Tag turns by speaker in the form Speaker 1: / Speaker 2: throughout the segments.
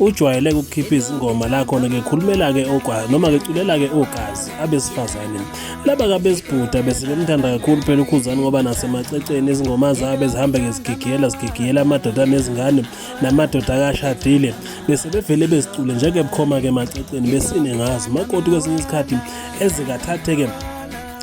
Speaker 1: ujwayele ukukhipha izingoma la khona ke khulumela-ke ogwazi noma-ke culela-ke ogazi abesifazane laba kabesibhuda bese bemthanda kakhulu phela ukhuzani ngoba nasemaceceni izingoma zabo ezihambe-ke zigigiyela zigigiyela amadoda nezingane namadoda akashadile bese bevele bezicule njeke bukhoma-ke emaceceni besine ngazo makoti kwesinye isikhathi ezikathathe-ke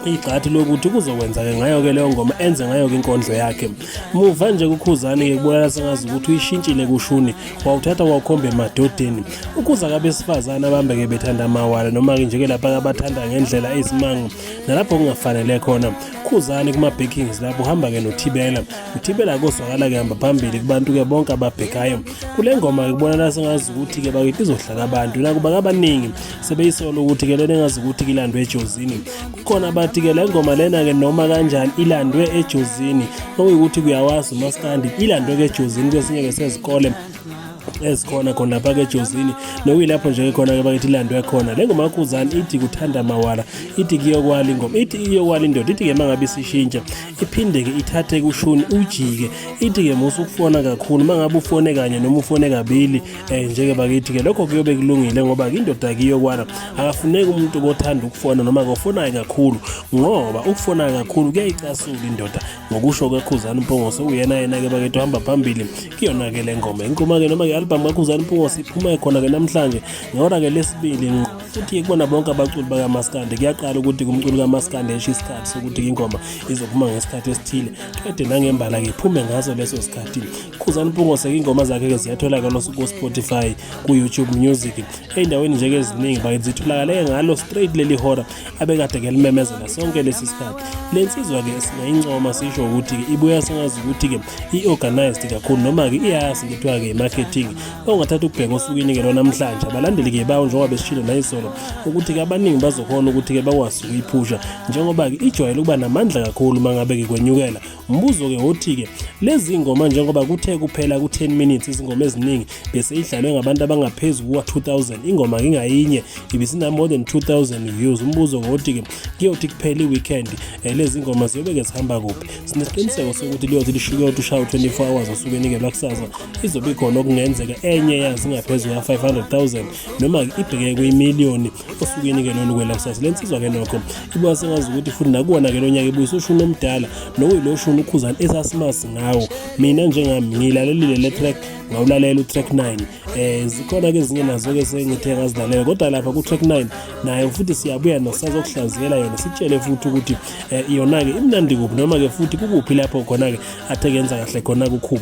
Speaker 1: igxathi lokuthi kuzokwenzake ngayo-ke leyo ngoma enze ngayo-ke inkondlo yakhe muva nje kukhuzane-ke kubonakala sengazi ukuthi uyishintshile kushuni wawuthatha wawukhomba emadodeni ukhuza kabesifazane abambe-ke bethanda amawala noma-ke nje-ke lapha abathanda ngendlela ezimango nalapho kungafanele khona khuzane kuma-backings lapho uhamba-ke nothibela uthibela kozwakala-ke hamba phambili kubantu-ke bonke ababhekayo kule ngoma-ke kubonakala sengazi ukuthi-ke bakithi izohlala abantu nakuba kabaningi sebeyisola ukuthi ke lena engazi ukuthi kilandwe ejozini kukhona abathi ke le ngoma lena ke noma kanjani ilandwe ejozini okuyukuthi kuyawazi umaskandi ilandwe ke ejozini kwesinye ke sezikole ezikhona khona lapha ke Jozini nokuyilapho nje khona ke bakithi ilandwe khona le ngoma kuzani ithi kuthanda mawala ithi kuyokwala ingoma ithi iyokwala indoda ithi ke mangabe isishintsha iphinde ke ithathe kushuni ujike ithi ke musu ukufona kakhulu mangabe ufone kanye noma ufone kabili eh njeke bakithi ke lokho kuyobe kulungile ngoba indoda kiyo kwana akafuneki umuntu kothanda ukufona noma kofonayo kakhulu ngoba ukufonayo kakhulu kuyayicasula indoda ngokusho kwekhuzana impungose uyena yena ke bakithi uhamba phambili kuyona ke le ngoma inkuma ke noma ke album kakhuzana impungose iphuma khona ke namhlanje ngehora ke lesibili ngqo futhi kubona bonke abaculi bakamaskande kuyaqala ukuthi kumculi kamaskande esho isikhathi sokuthi ingoma izophuma ngesikhathi esithile kade nangembala ke iphume ngaso leso sikhathi Khuzani Mpungose ingoma zakhe ke ziyatholakala ku-Spotify ku-YouTube Music ey'ndaweni nje-ke eziningi bakithi zitholakale ngalo straight leli hora abekade ke limemezela sonke lesi sikhathi le nsizwa-ke singayincoma sisho ukuthi-ke ibuya sengazi ukuthi-ke i-organized kakhulu noma-ke iyazi kuthiwa-ke i-marketing ongathatha ukubheka osukwini-ke lwanamhlanje abalandeli-ke bawo njengoba besishilo nayizolo ukuthi-ke abaningi bazokhona ukuthi-ke bakwazi ukuyiphusha njengoba-ke ijwayele ukuba namandla kakhulu uma ngabe-ke kwenyukela Umbuzo-ke wothi-ke lezi ngoma njengoba kuthe kuphela ku-10 minutes izingoma eziningi bese idlalwe ngabantu abangaphezu kuka-2000 ingoma ngingayinye ibisinamore than 2000 views umbuzo ngothi-ke kuyothi kuphela i-weekend um lezi ngoma ziyobe-ke zihamba kuphi sinesiqiniseko sokuthi liyothi lishikoti ushawu 24 hours osuke nikelwa kusasa izobe ikhona okungenzeka enye yazi ingaphezu kuka-500 000 noma ibheke kwimiliyoni osukwini ke lolu kwela kusasa le nsizwa ke nokho ibuka sengazi ukuthi futhi nakuwona ke lo nyaka ibuyisa ushuni omdala nokuyilo shuni ukhuzani esasimazi ngawo mina njengami ngilalelile le track ngawulalela utrack 9 eh zikhona ke ezinye nazo ke sengithe ngazilalela kodwa lapha kutrack 9 nayo futhi siyabuya nosazokuhlaziyela yona sitshele futhi ukuthi eh, yona ke imnandi kuphi noma ke futhi kukuphi lapho khona ke athe kenza kahle khona kukhuba